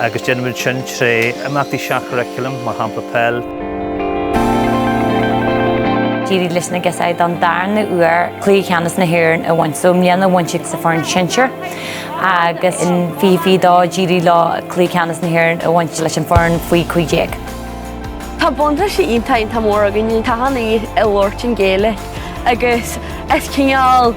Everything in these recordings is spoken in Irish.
agus déanfaimid sin tré imeachtaí seach-churaclaim, mar shampla peil. D'éirigh leis na girseachaí don darna uair Cluiche Ceannais na hÉireann a bhaint. So i mbliana a bhain siad sa fhoireann sinsear agus in 2022 d'éirigh leo Cluiche Ceannais na hÉireann a bhaint leis an fhoireann faoi 15. Tá buntáiste iontach iontach mór againne, tá an Ghaeilge á labhairt an Ghaeilge agus is cineál.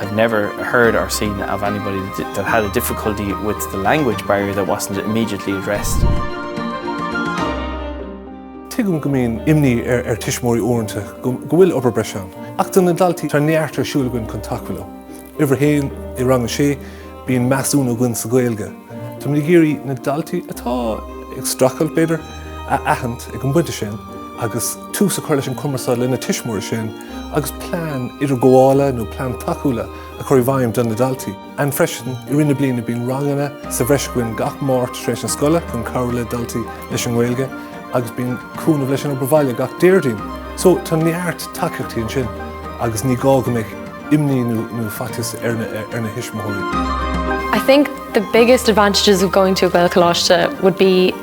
I've never heard or seen of anybody that had a difficulty with the language barrier that wasn't immediately addressed. Tuigim go mbíonn imní ar tuismitheoirí uaireanta go bhfuil obair breise ann, ach do na daltaí tá neart ar siúl againn chun tacú leo. Uimhir a haon i rang a sé, bíonn measúnú againn sa Ghaeilge. Táimid ag iarraidh na daltaí atá ag streachailt, b'fhéidir, a aithint ag an bpointe sin agus tús a chur leis an gcumarsáid lena tuismitheoirí sin. agus plean idirghabhála nó plean tacúla a chur i bhfeidhm do na daltaí. Freisin, i rith na bliana bíonn ranganna sa bhreis againn gach Máirt tar éis na scoile chun cabhrú le daltaí leis an nGaeilge agus bíonn cúnamh leis an obair bhaile gach Déardaoin. So tá neart tacaíochtaí ansin agus ní gá go mbeadh imní nó nó faitíos ar na ar na thuismitheoirí. I think the biggest advantages of going to a Gaelcholáiste would be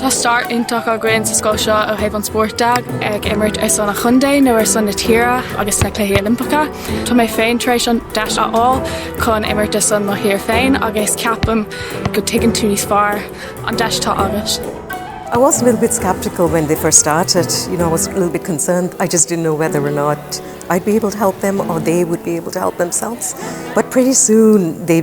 Tá stair iontach againn sa scoil seo ó thaobh an spóirt de, ag imirt ar son an chontae nó ar son na tíre agus sna Cluichí Oilimpeacha. Tá mé féin tar éis an deis a fháil chun imirt ar son mo thír féin agus ceapaim go dtuigeann tú níos fearr an deis atá agat. I was a little bit skeptical when they first started. You know, I was a little bit concerned. I just didn't know whether or not I'd be able to help them or they would be able to help themselves. But pretty soon they